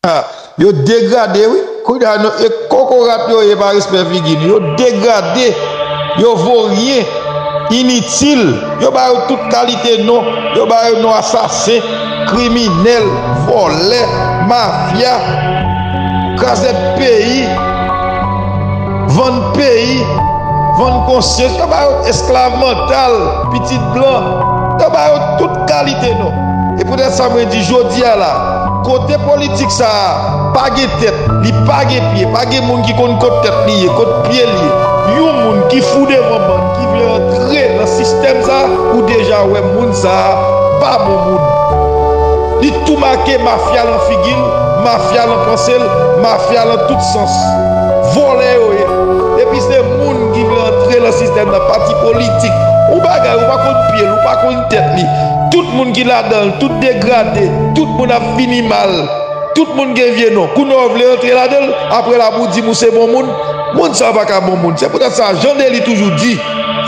Ah yo degrade wi kounya nou e kokorat yo ye pa respè figi nou yo degrade yo vo ryen initil yo ba yo tout kalite non yo ba yo non asasen kriminèl vòlè mafya krazèd peyi vann peyi vann konsyans yo ba yo esklav mantal pitit blan yo ba yo tout kalite non e poutèt sa mwen di jodi a la. Kote politik sa a pa gen tèt, li pa gen pye, pa gen moun ki konn kot tèt li ye, kot pye li ye. Yon moun ki fou devan bann ki vle antre nan sistèm sa a, ou deja wè moun sa a pa bon moun. Li tou make mafya lan figi l, mafya lan panse l, mafya lan tout sans. Vòlè yo ye. Epi se moun ki vle antre lan sistèm nan, pati politik. Yon bagay ou pa konn pye l, ou pa konn tèt li. Tout moun ki ladan l, tout degrade. Tout moun ap fini mal tout moun gen vye non kou nò vle antre ladanl aprè la pou dim ou se bon moun moun sa paka bon moun se poutèt sa jan deli toujou di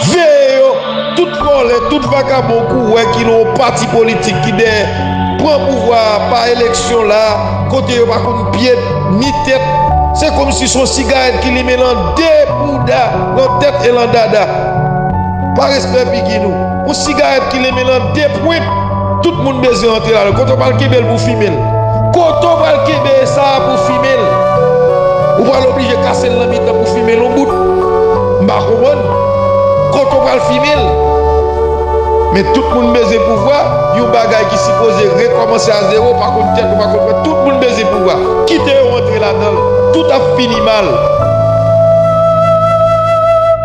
veye yo tout vòlè tout vakabon kou wè ki nan yon pati politik ki dèyè pran pouvwa a pa eleksyon la kote yo pa konn pyet ni tèt se komsi son sigarèt ki limen lan de bouda lan tèt e lan dada pa respè figi nou. Yon sigarèt ki limen lan 2 pwent, tout moun bezwen antre ladan l. Kote w pral kenbe l pou fimen l? Kote w pral kenbe e sa a pou fimen l? Ou pral oblije kase l nan mitan pou fimen l yon bout? M pa konprann. Kote w pral fimen l? Men tout moun bezwen pouvwa, yon bagay ki sipoze rekòmanse a zewo, pa konn tèt ou, pa konn frè, tout moun bezwen pouvwa. Kite yo antre ladan l, tout ap fini mal.